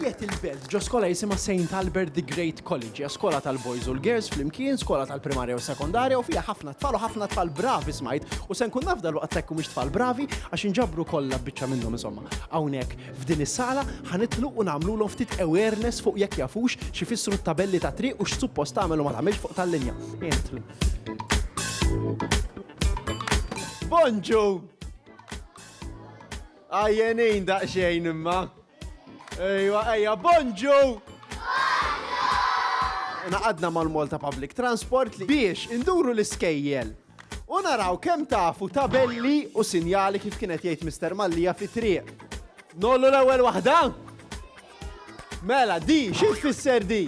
Qiegħed il-belt ġo skola jisimha St. Albert the Great College, hija skola tal-boys u l-girls flimkien, skola tal-primarja u sekondarja u fiha ħafna tfal u ħafna tfal bravi smajt u se nkun naf dal-waqt sekku mhux tfal bravi għax inġabru kollha biċċa minnhom insomma. Hawnhekk f'din is-sala ħanitlu u nagħmlulhom ftit awareness fuq jekk jafux xi fissru t-tabelli ta' triq u x'suppost tagħmel u ma tagħmilx fuq tal-linja. Entru. Bonġu! Għajjenin daqxejn imma. Ejwa, ejja, bonġu! Naqadna mal-Malta Public Transport li biex induru l-iskejjel. U naraw kemm tafu tabelli u sinjali kif kienet jgħid Mr. Mallija fi triq. Nollu l-ewwel waħda? Mela, di, xi tfisser di?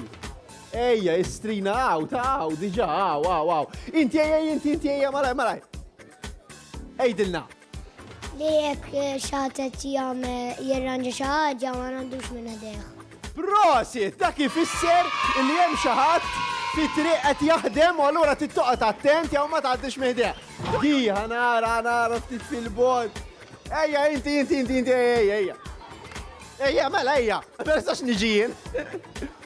Ejja, istrina għaw, ta' għaw, diġa, għaw, għaw, għaw. Inti ejja, inti, inti ejja, malaj, malaj. Ejdilna. Li jekk xatet jam jirranġa xaħġa ma għandux minn għadeħ. Prosit, dak ifisser li jem xaħat fi triq qed jaħdem u allura tittoqgħod attent jew ma tgħaddix meħdeħ. Di ħanara ħanara ftit fil-bord. Ejja, inti, inti, inti, inti, ejja, ejja. Ejja, mela, ejja. Persax niġijin.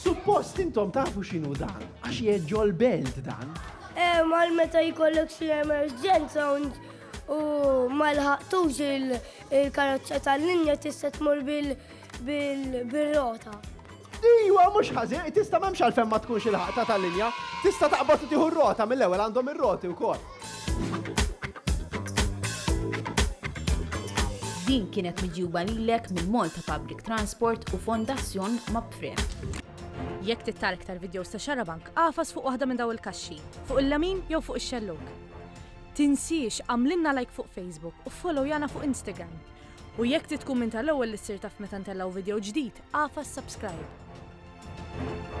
Suppost intom tafu x'inhu dan, għax jeġġo l-belt dan. Eh, mal meta jkollok xi emerġenza u ma lħaqtux il-karozza tal-linja tista' tmur bil-rota. Iwa, mux ħażin, tista' memx għalfem ma tkunx il-ħaqta tal-linja, tista' taqbad u tieħu r-rota mill-ewwel għandhom ir-roti wkoll. Din kienet miġjuba lilek minn Malta Public Transport u Fondazzjon Mapfre. Jekk tittar iktar videos ta' xarabank, għafas fuq waħda minn daw il-kaxxi, fuq il-lamin jew fuq ix-xelluk. Tinsiex għamlinna like fuq Facebook u follow jana fuq Instagram. U jekk titkun minn tal-ewwel li ssir taf meta ntellaw video ġdid, għafas subscribe. Thank you.